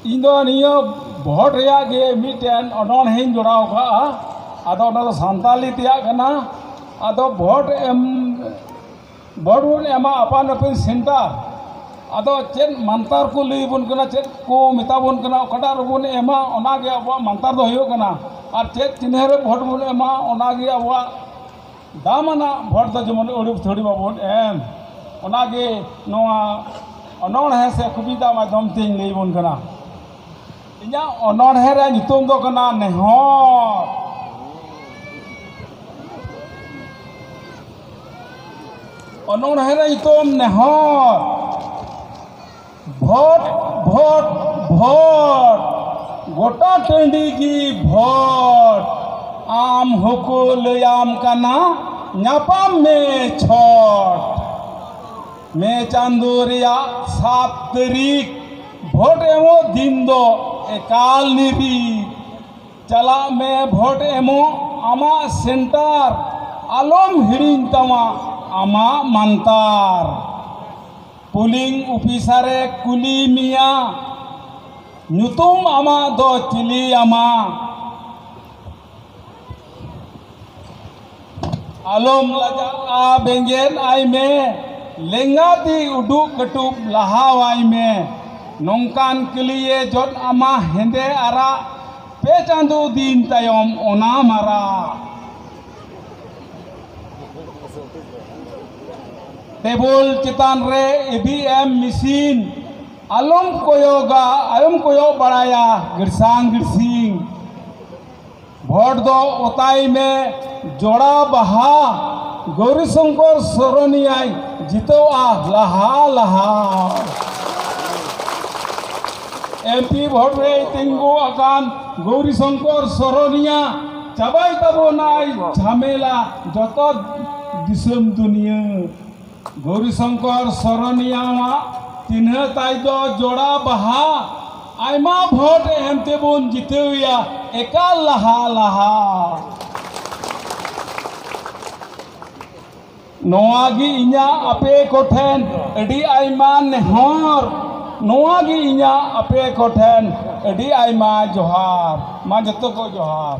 ᱤᱧ ᱫᱚ ᱱᱤᱭᱟᱹ ᱵᱷᱚᱴ ᱨᱮᱭᱟᱜ ᱜᱮ ᱢᱤᱫᱴᱮᱱ ᱚᱱᱚᱬᱦᱮᱧ ᱡᱚᱲᱟᱣ ᱠᱟᱜᱼᱟ ᱟᱫᱚ ᱚᱱᱟ ᱫᱚ ᱥᱟᱱᱛᱟᱞᱤ ᱛᱮᱭᱟᱜ ᱠᱟᱱᱟ ᱟᱫᱚ ᱵᱷᱚᱴ ᱮᱢ ᱵᱷᱚᱴ ᱵᱚᱱ ᱮᱢᱟ ᱟᱯᱟᱱ ᱟᱹᱯᱤᱱ ᱥᱮᱱᱴᱟᱨ ᱟᱫᱚ ᱪᱮᱫ ᱢᱟᱱᱛᱟᱨ ᱠᱚ ᱞᱟᱹᱭ ᱵᱚᱱ ᱠᱟᱱᱟ ᱪᱮᱫ ᱠᱚ ᱢᱮᱛᱟ ᱵᱚᱱ ᱠᱟᱱᱟ ᱚᱠᱟᱴᱟᱜ ᱨᱮᱵᱚᱱ ᱮᱢᱟ ᱚᱱᱟᱜᱮ ᱟᱵᱚᱣᱟᱜ ᱢᱟᱱᱛᱟᱨ ᱫᱚ ᱦᱩᱭᱩᱜ ᱠᱟᱱᱟ ᱟᱨ ᱪᱮᱫ ᱪᱤᱱᱦᱟᱹ ᱨᱮ ᱵᱷᱚᱴ ᱵᱚᱱ ᱮᱢᱟ ᱚᱱᱟᱜᱮ ᱟᱵᱚᱣᱟᱜ ᱫᱟᱢᱟᱱᱟᱜ ᱵᱷᱳᱴ ᱫᱚ ᱡᱮᱢᱚᱱ ᱟᱹᱲᱩ ᱛᱷᱟᱹᱲᱩ ᱵᱟᱵᱚᱱ ᱮᱢ ᱚᱱᱟᱜᱮ ᱱᱚᱣᱟ ᱚᱱᱚᱬᱦᱮᱸ ᱥᱮ ᱠᱚᱵᱤᱛᱟ ᱢᱟᱫᱽᱫᱷᱚᱢ ᱛᱤᱧ ᱞᱟᱹᱭ ᱟᱵᱚᱱ ᱠᱟᱱᱟ ᱤᱧᱟᱹᱜ ᱚᱱᱚᱬᱦᱮᱸ ᱨᱮᱭᱟᱜ ᱧᱩᱛᱩᱢ ᱫᱚ ᱠᱟᱱᱟ ᱱᱮᱦᱚᱨ ᱚᱱᱚᱬᱦᱮᱸ ᱨᱮᱭᱟᱜ ᱧᱩᱛᱩᱢ ᱱᱮᱦᱚᱨ ᱵᱷᱚᱴ ᱵᱷᱚᱴ ᱵᱷᱚᱴ ᱜᱚᱴᱟ ᱴᱟᱺᱰᱤ ᱜᱮ ᱵᱷᱚᱴ ᱟᱢ ᱦᱚᱸᱠᱚ ᱞᱟᱹᱭᱟᱢ ᱠᱟᱱᱟ ᱧᱟᱯᱟᱢ ᱢᱮ ᱪᱷᱚᱴ ᱢᱮ ᱪᱟᱸᱫᱳ ᱨᱮᱭᱟᱜ ᱥᱟᱛ ᱛᱟᱹᱨᱤᱠᱷ ᱵᱷᱳᱴ ᱮᱢᱚᱜ ᱫᱤᱱ ᱫᱚ ᱮᱠᱟᱞ ᱱᱤᱨᱤᱠ ᱪᱟᱞᱟᱜ ᱢᱮ ᱵᱷᱳᱴ ᱮᱢᱚᱜ ᱟᱢᱟᱜ ᱥᱮᱱᱴᱟᱨ ᱟᱞᱚᱢ ᱦᱤᱲᱤᱧ ᱛᱟᱢᱟ ᱟᱢᱟᱜ ᱢᱟᱱᱛᱟᱨ ᱯᱩᱞᱤᱝ ᱚᱯᱷᱤᱥᱟᱨ ᱮ ᱠᱩᱞᱤ ᱢᱮᱭᱟ ᱧᱩᱛᱩᱢ ᱟᱢᱟᱜ ᱫᱚ ᱪᱤᱞᱤ ᱟᱢᱟ ᱟᱞᱚᱢ ᱞᱟᱡᱟᱜᱼᱟ ᱵᱮᱸᱜᱮᱫ ᱟᱭ ᱢᱮ ᱞᱮᱸᱜᱟ ᱛᱤ ᱩᱰᱩᱠ ᱠᱟᱹᱴᱩᱵ ᱞᱟᱦᱟᱣᱟᱭ ᱢᱮ ᱱᱚᱝᱠᱟᱱ ᱠᱟᱹᱞᱤᱭᱮ ᱡᱚᱫ ᱟᱢᱟ ᱦᱮᱸᱫᱮ ᱟᱨᱟᱜ ᱯᱮ ᱪᱟᱸᱫᱚ ᱫᱤᱱ ᱛᱟᱭᱚᱢ ᱚᱱᱟ ᱢᱟᱨᱟᱜ ᱴᱮᱵᱚᱞ ᱪᱮᱛᱟᱱ ᱨᱮ ᱤᱵᱷᱤ ᱮᱢ ᱢᱮᱥᱤᱱ ᱟᱞᱚᱢ ᱠᱚᱭᱚᱜᱟ ᱟᱞᱚᱢ ᱠᱚᱭᱚᱜ ᱵᱟᱲᱟᱭᱟ ᱜᱤᱨᱥᱟᱝ ᱜᱤᱨᱥᱤᱝ ᱵᱷᱳᱴ ᱫᱚ ᱚᱛᱟᱭ ᱢᱮ ᱡᱚᱲᱟ ᱵᱟᱦᱟ ᱜᱳᱨᱤ ᱥᱚᱝᱠᱚᱨ ᱥᱚᱨᱚᱱᱤᱭᱟᱭ ᱡᱤᱛᱟᱹᱣᱟ ᱞᱟᱦᱟ ᱞᱟᱦᱟ ᱮᱢᱯᱤ ᱵᱷᱳᱴ ᱨᱮ ᱛᱤᱸᱜᱩ ᱟᱠᱟᱱ ᱜᱳᱨᱤ ᱥᱚᱝᱠᱚᱨ ᱥᱚᱨᱚᱱᱤᱭᱟ ᱪᱟᱵᱟᱭ ᱛᱟᱵᱚᱱᱟᱭ ᱡᱷᱟᱢᱮᱞᱟ ᱡᱚᱛᱚ ᱫᱤᱥᱚᱢ ᱫᱩᱱᱤᱭᱟᱹ ᱜᱳᱨᱤ ᱥᱚᱝᱠᱚᱨ ᱥᱚᱨᱚᱱᱤᱭᱟᱣᱟᱜ ᱪᱤᱱᱦᱟᱹ ᱛᱟᱭ ᱫᱚ ᱡᱚᱲᱟ ᱵᱟᱦᱟ ᱟᱭᱢᱟ ᱵᱷᱳᱴ ᱮᱢ ᱛᱮᱵᱚᱱ ᱡᱤᱛᱟᱹᱣᱮᱭᱟ ᱮᱠᱟᱞ ᱞᱟᱦᱟ ᱞᱟᱦᱟ ᱱᱚᱣᱟ ᱜᱮ ᱤᱧᱟᱹᱜ ᱟᱯᱮ ᱠᱚᱴᱷᱮᱱ ᱟᱹᱰᱤ ᱟᱭᱢᱟ ᱱᱮᱦᱚᱨ ᱱᱚᱣᱟ ᱜᱮ ᱤᱧᱟᱹᱜ ᱟᱯᱮ ᱠᱚᱴᱷᱮᱱ ᱟᱹᱰᱤ ᱟᱭᱢᱟ ᱡᱚᱦᱟᱨ ᱢᱟ ᱡᱚᱛᱚ ᱠᱚ ᱡᱚᱦᱟᱨ